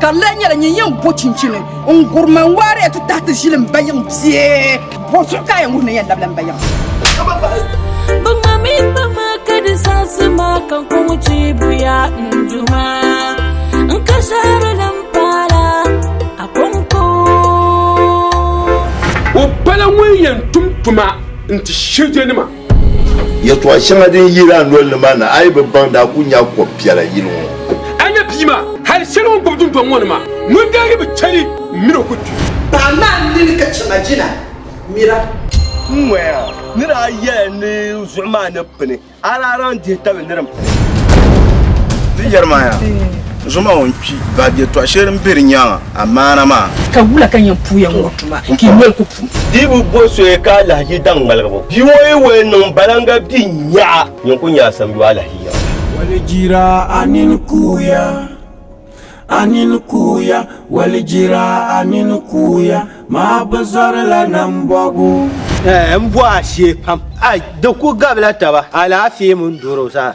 Ka di lee nyɛla nyin yɛn bo chinchini n-gurima n-waariya ti tahi ti ʒili m-bayiŋ bie? Bo zuɣu ka a yɛn wuhi ni yɛn labila m-bayiŋ? Bɛ ŋma mi kpa ma ka di zaɣisi ma ka n kɔŋ chiibuya n-duma n ka shɛhiri din paala a kɔŋko. O pala ŋun yɛn tum tuma n-ti shirijanima. Yɛltɔɣa shɛŋa din yiri a noli ni maa ni a yi bi baŋ daa ku nya kɔb piɛla yili ŋɔ. A nya bia maa hali shɛli o ni gbubi dundɔŋ ŋɔ ni maa ŋun daa yi bi chɛli min o ku kpi. Paɣ maa n nini ka chɛma jina mira. N ŋɔya, ni daa yɛla ni zuɣu maa ni pini, a daa lan dihi tabi ni din pini. Di yɛri maa yaa, zuɣu maa o ni kpi, baab yɛltɔɣa shɛli din be di nyaaŋa amaana maa. Ka wula ka n yɛn puuya ŋɔ tuma ka i noli ku pum? Di bi bo soya ka alahichi daŋ ŋmaligibu. Bia ŋɔ yi wali niŋ balaŋga bia n-nyaɣa. Yin ku nyaɣi samiyu alahichi yaŋ. Walijira a nini kuuya, a nini kuuya, walijira a nini kuuya, maa bi zɔri la nambɔbu. Ɛɛh m bɔhi a shee pam. Ai di ku gabila taba alaafee mini doro zaa.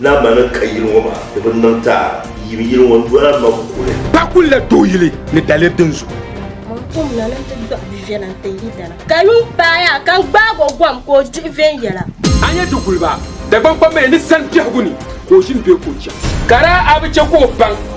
Naa ma ni ka yili ŋɔ maa di bi niŋ ti a yim yili ŋɔ n dɔla ma kuli. Pa kuli la tooi yili ni daliri din zuɣu. Mɔɣu kom na ni n ti dɔɣi bɛ viɛla n-ti yi dana. Ka yuŋ paai a ka n gbaag o gom ka o dihi viɛnyɛla. A nya di guli ba, Dagbaŋ kpambaliya ni sani biɛhigu ni ka o ʒini bee ka o chani? Ka daa a bi chɛ ka o baŋ.